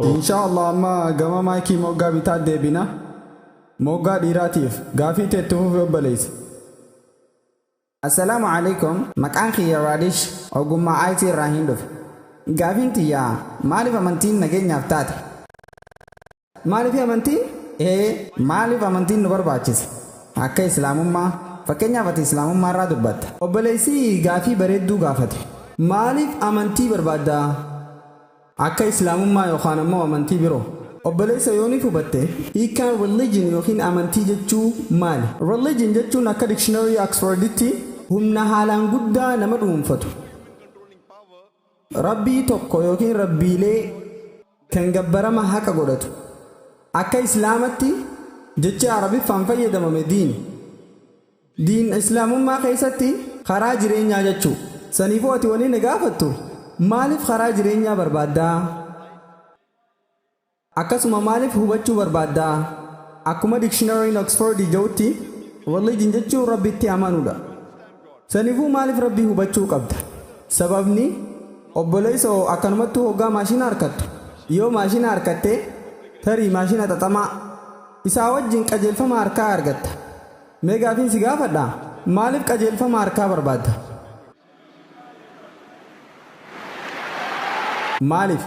Inshaa Allah amma gama maayikii moggaa bitaa deebina. Moggaa dhiiraatiif gaafii teetti fufi obboleessa. Assalaamu alaikum maqaan kiyya Raadish ogummaa IT irraa hin dhufe. Gaafiin tiyyaa maaliif amantiin nageenyaaf taate? Maaliif amantiin? Ee. Maaliif amantiin nu barbaachisa? Akka Islaamummaa. Fakkeenyaaf ati Islaamummaa irraa dubbatta. Obboleessi gaaffii bareedduu gaafate. Maaliif amantii barbaadda? Akka Islaamummaa yookaan ammoo amantii biroo. Obboleessa yoo ni hubatte, hiikkaan religion ykn amantii jechuu maali? Religion jechuun akka dictionary Oxford tti. Humna haalaan guddaa nama dhuunfatu. Rabbii tokko ykn Rabbiilee kan gabbarama haqa godhatu. Akka Islaamatti jechi Arabiffaan fayyadamame diin. Diin Islaamummaa keessatti karaa jireenyaa jechuu. Saniifuu ati wanni na gaafattu maaliif karaa jireenyaa barbaaddaa? Akkasuma maalif hubachuu barbaadda? Akkuma dictionary'n Oxford ja'utti Religion jechuun Rabbitti amanuudha. Sanifuu maalif Rabbii hubachuu qabda? Sababni, obboleessa oo akkanumattuu hoggaa maashina harkattu, yoo maashina harkatte, tarii maashina xaxamaa, isaa wajjin qajeelfama harkaa argatta. Mee gaafiin si gaafadha, maalif qajeelfama harkaa barbaadda? Maaliif?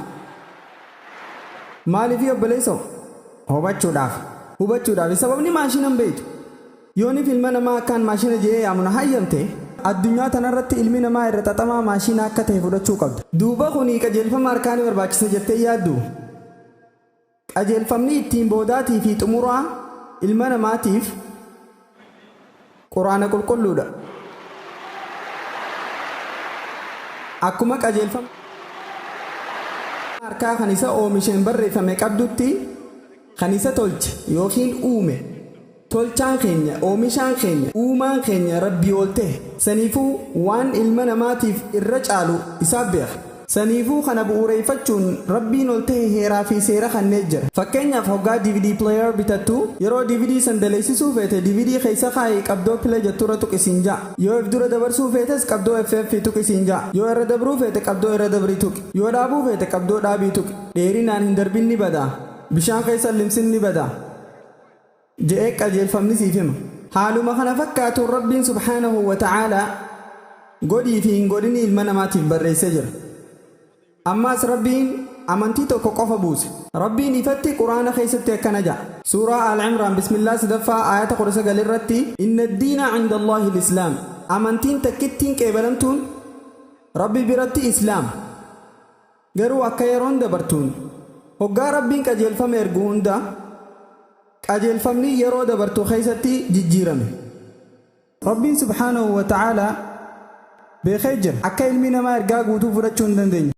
Maaliifii obboleessoo? Hubachuudhaaf. Hubachuudhaafi sababni maashina hin beektu. Yoonif ilma namaa akkaan maashina je'ee yaamu na hayyamte, addunyaa tanarratti ilmi namaa irra xaxamaa maashiina akka tahe fudhachuu qabda. Duuba kuni qajeelfama harkaa ni barbaachisa jettee hin yaadduu? Qajeelfamni ittiin boodaatii fi xumuraa ilma namaatiif Qur'aana Qulqulluudha. Akkuma qajeelfama nama harkaa kan isa oomisheen barreeffame qabdutti kan isa tolche ykn uume. Tolchaan keenya, Oomishaan keenya, Uumaan keenya Rabbii ol tahe. Saniifuu waan ilma namaatiif irra caalu Isaaf beeka. Saniifuu kana bu'uureyfachuun Rabbiin ol tahe heeraa fi seera kannee jira. Fakkeenyaaf hoggaa dvd player bitattu, yeroo dvd san daleysisuu feete dvd kheeysa kaayi qabdoo play jettu irra tuqi siin ja'a. Yoo if dura dabarsuu feetes qabdoo FF tuqi siin ja'a. Yoo irra dabruu feete qabdoo irra dabri tuqi. Yoo dhaabuu feete qabdoo dhaabi tuqi. Dheerinaan hin darbin ni bada. Bishaan kheeysa hin limsin ni bada. je'ee qajeelfamni siif hima. Haaluma kana fakkaatuun Rabbiin subhaanahu wa ta'aalaa godhii fi hin godhinii ilma namaatiif barreessee jira. Ammaas Rabbiin amantii tokko qofa buuse. Rabbiin ifatti Qur'aana keessatti akkana ja'a. Suuraa Aal-Imraan Bismillah 3ffaa aayata 19 irratti Inna ad-diina 'inda Allaahi al-Islaam Amantiin takkittiin qeebalamtuun Rabbi biratti Islaama. Garuu akka yeroon dabartuun hoggaa Rabbiin qajeelfama ergu hunda qajeelfamni yeroo dabartu keessatti jijjiirame. Rabbiin subhaanahu wa ta'aalaa beekee jira akka ilmi namaa ergaa guutuu fudhachuu hin dandeenye.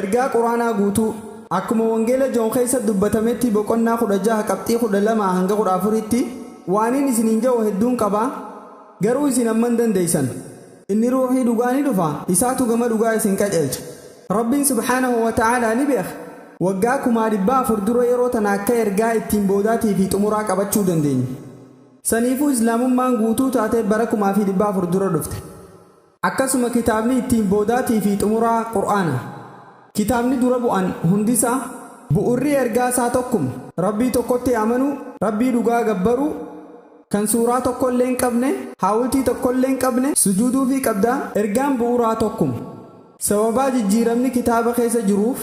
Ergaa Qur'aanaa guutuu akkuma wangeela Joon keessa dubbatametti boqonnaa 16 qabxii 12-14tti, Waaniin isiniin ja'u hedduun qaba, garuu isin amma hin dandeessan. Inni Ruuhii dhugaa ni dhufa, Isaatu gama dhugaa isin qajeelcha. Rabbiin subhaanahu wa ta'aalaa ni beeka, waggaa kumaa dhibbaa afur dura yeroo tana akka ergaa ittiin boodaatii fi xumuraa qabachuu dandeenyu. Saniifuu Islaamummaan guutuu taatee bara kumaa fi dhibba afur dura dhufte. Akkasuma kitaabni ittiin boodaatii fi xumuraa Qur'aana. Kitaabni dura bu'an hundisaa, bu'urri ergaa isaa tokkuma. Rabbii tokkotti amanuu, Rabbii dhugaa gabbaruu. kan suuraa tokkollee hin qabne, haawltii tokkollee hin qabne sujuuduufii qabda, ergaan bu'uuraa tokkuma. Sababaa jijjiiramni kitaaba keessa jiruuf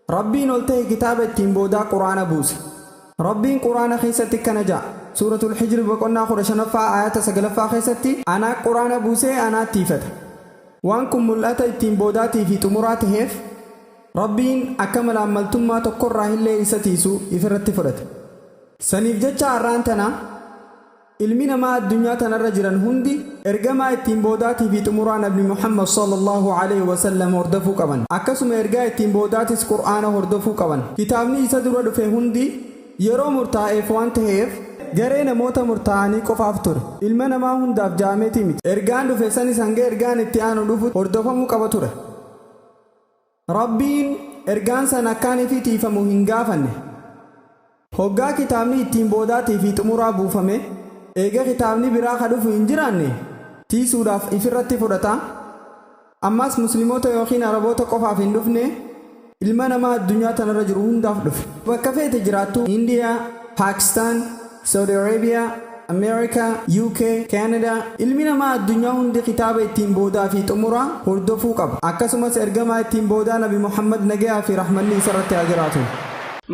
Rabbiin ol tahe kitaaba ittiin boodaa Qur'aana buuse. Rabbiin Qur'aana keessatti akkana ja'a, Suuratul Hijri boqonnaa 15ffaa aayaata 9ffaa keessatti Anaa Qur'aana buusee Anaatti hifata. Waan kun mul'ata ittiin boodaatii fi xumuraa taheef Rabbiin akka malaammaltummaa tokkorraahillee isa tiisu ifirratti fudhate. Saniif jecha arraan tana ilmi namaa addunyaa tanarra jiran hundi ergamaa ittiin boodaatii fi xumuraa nabi Muhammad sallallaahu aleyhi wa sallam hordofuu qaban. Akkasuma ergaa ittiin boodaatis qur'aana hordofuu qaban. Kitaabni isa dura dhufe hundi yeroo murtaa'eef waan taheef garee namoota murtaa'anii qofaaf ture. Ilma namaa hundaaf ja'ameeti miti. Ergaan dhufe sanis hanga ergaan itti aanu dhufutti hordofamuu qaba ture. Rabbiin ergaan san akkaan ifii tiiyfamu hin gaafanne. Hoggaa kitaabni ittiin boodaatii fi xumuraa buufame, eega kitaabni biraa ka dhufu hin jiraanne, tiiysuudhaaf ifirratti fudhata. Ammaas Muslimoota ykn Araboota qofaaf hin dhufne, ilma namaa addunyaa tanarra jiru hundaaf dhufe. Bakka feete jiraattuu, Indiyaa, Paakistaan, Saudi Arabia, America, UK, Canada, Ilmi namaa addunyaa hundi kitaaba ittiin boodaa fi xumuraa hordofuu qaba. Akkasumas ergamaa ittiin boodaa Nabi Muhammad nagayaa fi rahmanni isarratti haa jiraatu.